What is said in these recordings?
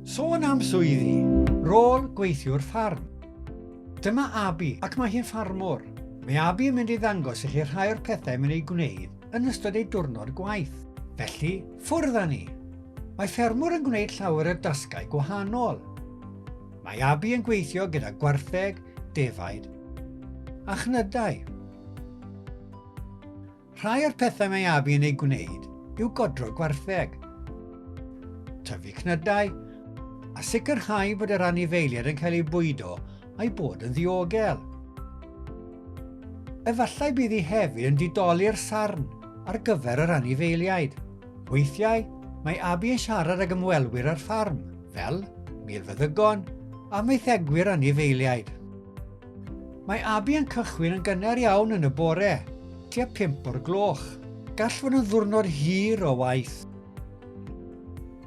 Sôn am swyddi, rôl gweithiwr ffarm. Dyma Abi ac mae hi'n ffarmwr. Mae Abi yn mynd i ddangos i chi rhai o'r pethau mae'n ei gwneud yn ystod ei diwrnod gwaith. Felly, ffwrdd â ni! Mae ffermwr yn gwneud llawer o dasgau gwahanol. Mae Abi yn gweithio gyda gwartheg, defaid a chnydau. Rhai o'r pethau mae Abi yn eu gwneud yw godro gwartheg, tyfu cnydau, a sicrhau bod yr anifeiliaid yn cael eu bwydo a'i bod yn ddiogel. Efallai bydd hi hefyd yn didoli'r sarn ar gyfer yr anifeiliaid. Weithiau, mae Abi yn siarad ag ymwelwyr ar ffarm, fel milfeddygon a maethegwyr anifeiliaid. Mae Abi yn cychwyn yn gynnar iawn yn y bore, tua 5 o'r gloch. Gall fod yn ddwrnod hir o waith.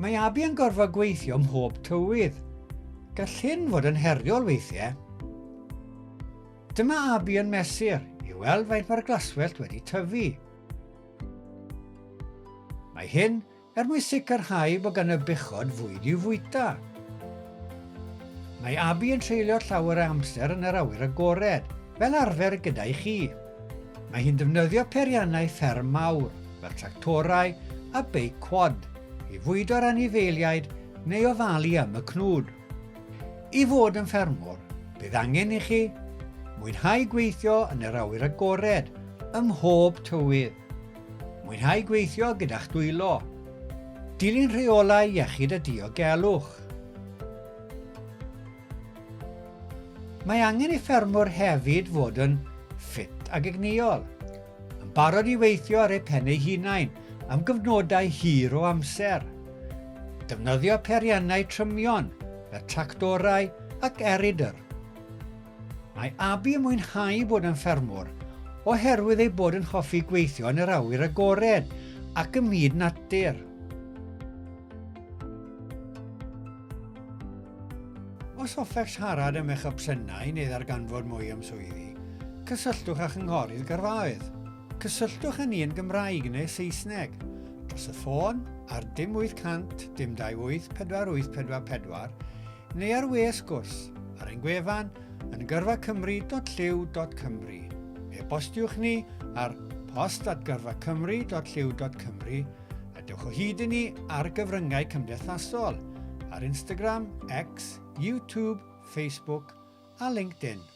Mae Abi yn gorfod gweithio mhob tywydd. Gall hyn fod yn heriol weithiau. Dyma Abi yn mesur i weld faint mae'r glaswellt wedi tyfu. Mae hyn Er mwyn sicrhau bod gan y bechod fwyd i'w fwyta. Mae Abi yn treulio llawer o amser yn yr awyr agored, fel arfer gyda i chi. Mae hi'n defnyddio peiriannau fferm mawr, fel tractorau a beic quad, i fwydo'r anifeiliaid neu ofalu am y cnwd. I fod yn ffermwr, bydd angen i chi mwynhau gweithio yn yr awyr agored ym mhob tywydd. Mwynhau gweithio gyda'ch dwylo. Dilyn rheolau iechyd a diogelwch. Mae angen i ffermwr hefyd fod yn ffit ag egnïol, yn barod i weithio ar eu pen eu hunain am gyfnodau hir o amser. Defnyddio periannau trymion, fel tractorau ac eridr. Mae Abi yn mwynhau bod yn ffermwr oherwydd ei bod yn hoffi gweithio yn yr awyr agored ac ym myd natur. Os hoffech siarad am eich opsiynau neu ddarganfod mwy am swyddi, cysylltwch â Chynghorydd Gyrfaoedd. Cysylltwch â ni yn Gymraeg neu Saesneg, dros y ffôn ar dim 800 dim 28 4844 neu ar we sgwrs, ar ein gwefan yn gyrfacymru.llyw.cymru. E-bostiwch ni ar post at gyrfacymru.llyw.cymru a dewch o hyd i ni ar gyfryngau cymdeithasol ar Instagram, X, YouTube, Facebook a LinkedIn.